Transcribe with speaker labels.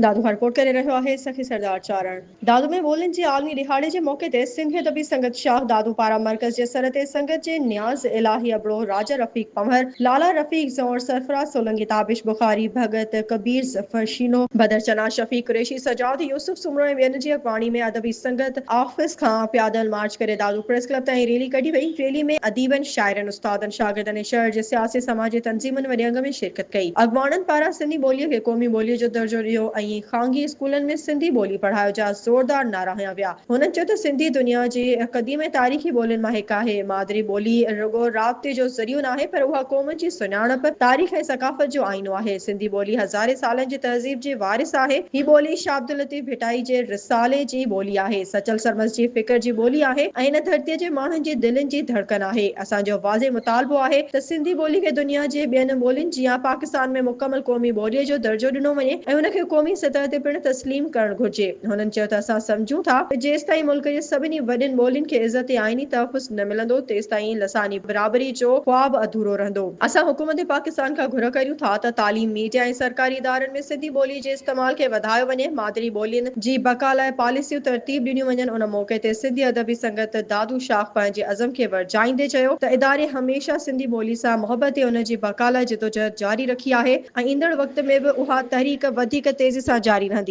Speaker 1: دادو هرڪوٽ ڪري رهيو آهي، سخي سردار چارڻ. دادو ۾ ٻولين جي عالمي ڏهاڙي جي موقعي تي سنڌي ادبي سنگت شاهه دادو پاران مرڪز جي سر تي سنگت جي نياز الاهي ابڙو، راجا رفيق پنهور، لالا رفيق زئور، سرفراز سولنگي، تابش بخاري، ڀڳت ڪبير ظفر شينو، بدر چنا، شفيق قريشي، سجاد يوسف سومرو ۽ ٻين جي اڳواڻي ۾ ادبي سنگت آفيس کان پيادل مارچ ڪري دادو پريس ڪلب تائين ريلي ڪڍي وئي، ريلي ۾ اديبن، شاعرن، استادن، شاگردن ۽ شهر جي سياسي سماجي تنظيمن وڏي انگ ۾ شرڪت ڪئي. اڳواڻن پاران سنڌي ٻوليء کي قومي ٻوليء جو درجو ڏيو ۽ خانگي اسڪولن ۾ سنڌي ٻولي پڙهايو جا زوردار نعرا هنيا ويا. هنن چيو ته سنڌي دنيا جي قديم ۽ تاريخي ٻولين مان هڪ آهي. مادري ٻولي رڳو رابطي جو ذريعو ناهي پر اها قومن جي سڃاڻپ، تاريخ ۽ ثقافت جو آئينو آهي. سنڌي ٻولي هزارين سالن جي تهذيب جي وارث آهي. هي ٻولي شاهه عبداللطيف. ڀٽائي جي رسالي جي ٻولي آهي، سچل سرمست جي فڪر جي ٻولي آهي ۽ هن ڌرتيء جي ماڻهن جي دلين جي ڌڙڪن آهي. اسان جو واضح مطالبو آهي ته سنڌي ٻولي کي دنيا جي ٻين ٻولين جيان پاڪستان ۾ مڪمل قومي ٻوليء جو درجو ڏنو وڃي ۽ هن کي قومي سطح تي پڻ تسليم ڪرڻ گهرجي. هنن چيو ته اسان سمجهون ٿا ته جيستائين ملڪ جي سڀني وڏين ٻولين کي عزت ۽ آئيني تحفظ نه ملندو تيستائين لساني برابري جو خواب اڌورو رهندو. اسان حڪومت پاڪستان کان گهر ڪريون ٿا ته تعليم، ميڊيا ۽ سرڪاري ادارن ۾ سنڌي ٻوليء جي استعمال کي وڌايو وڃي، مادري ٻولين جي بقا لاء پاليسيون ترتيب ڏنيون وڃن، ان موقعي تي سنڌي ادبي سنگت دادو شاخ پنهنجي عزم کي ورجائيندي چيو ته اداري هميشه سنڌي ٻولي سان محبت ۽ ان جي بقا لاء جدوجهد جاري رکي آهي ۽ ايندڙ وقت ۾ به اها تحريڪ وڌيڪ تيزي سان جاري رهندي.